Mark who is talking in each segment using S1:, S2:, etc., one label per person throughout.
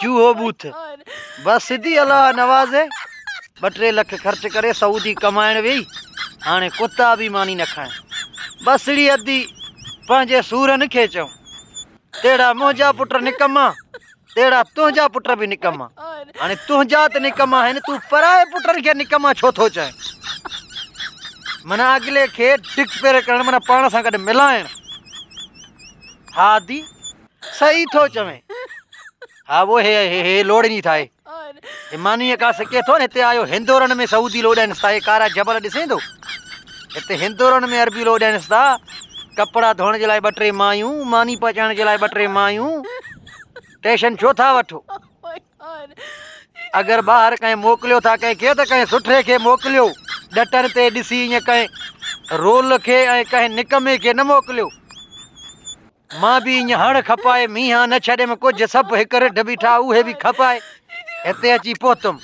S1: چوهو بوٿ بس سڌي الله نوازي ٻه ٽي لک خرچ ڪري سعودي ڪمائڻ ويئي هاڻي ڪتا به ماني نه کائين بسڙي ادي پنهنجي سورن کي چئون تهڙا منهنجا پٽ نڪما تهڙا تنهنجا پٽ به نڪما هاڻي تنهنجا ته نڪما آهن تون پرائي پٽن کي نڪما ڇو ٿو چئين منا اڳلي کي ڊڪ پير ڪرڻ منا پاڻ سان گڏ ملائڻ هادي صحيح ٿو چوين. ها وو هي هي هي لوڙني ٿائي. هي مانيء ڪا سڪي ٿو نه هتي آيو هندورن ۾ سعودي لو ڏينس ٿا هي ڪارا جبل ڏسين ٿو هتي هندورن ۾ عربي لو ڏينس ٿا ڪپڙا ڌوئڻ جي لاء ٻه ٽي مايون ماني پچائڻ جي لاء ٻه ٽي مايون ٽيشن ڇو ٿا وٺو اگر ٻاهر ڪنهن موڪليو ٿا ڪنهن کي ته ڪنهن سٺي کي موڪليو ڏٽن تي ڏسي ائين ڪنهن رول کي ۽ ڪنهن نڪمي کي نه موڪليو مان به ايئن هڻ کپائي مينهان نه ڇڏيم ڪجهه سڀ هڪ رڍ بيٺا اهي به کپائي هتي اچي پهتم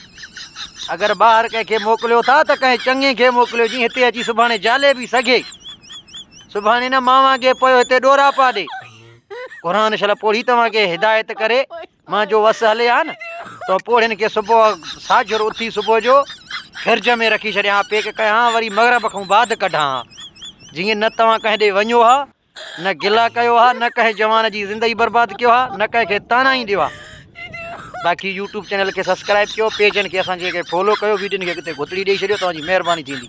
S1: اگر ٻاهر ڪنهن کي موڪليو ٿا ته ڪنهن چڱي کي موڪليو جي هتي اچي سڀاڻي جالي به سگهي سڀاڻي نه ماوان اڳي پيو هتي ڏورا پا ڏي قرآن شل پوڙهي توهان کي هدايت ڪري مان جو وس هلي ها نه تو پوڙهين کي صبح ساجر اٿي صبح جو فرج ۾ رکي ڇڏيا ها پيڪ ڪيا ها وري مغرب کان بعد ڪڍان ها جيئن نه توهان ڪنهن ڏي وڃو ها نه گلا ڪيو ها نه ڪنهن جوان جي زندگي برباد ڪيو ها نه ڪنهن کي تانا ئي ڏيو ها باقي يوٽيوب چينل کي سبسڪرائب ڪيو پيجن کي اسان جي کي فالو ڪيو ويڊين کي اڳتي گھتڙي ڏيئي ڇڏيو توهان جي مهرباني ٿيندي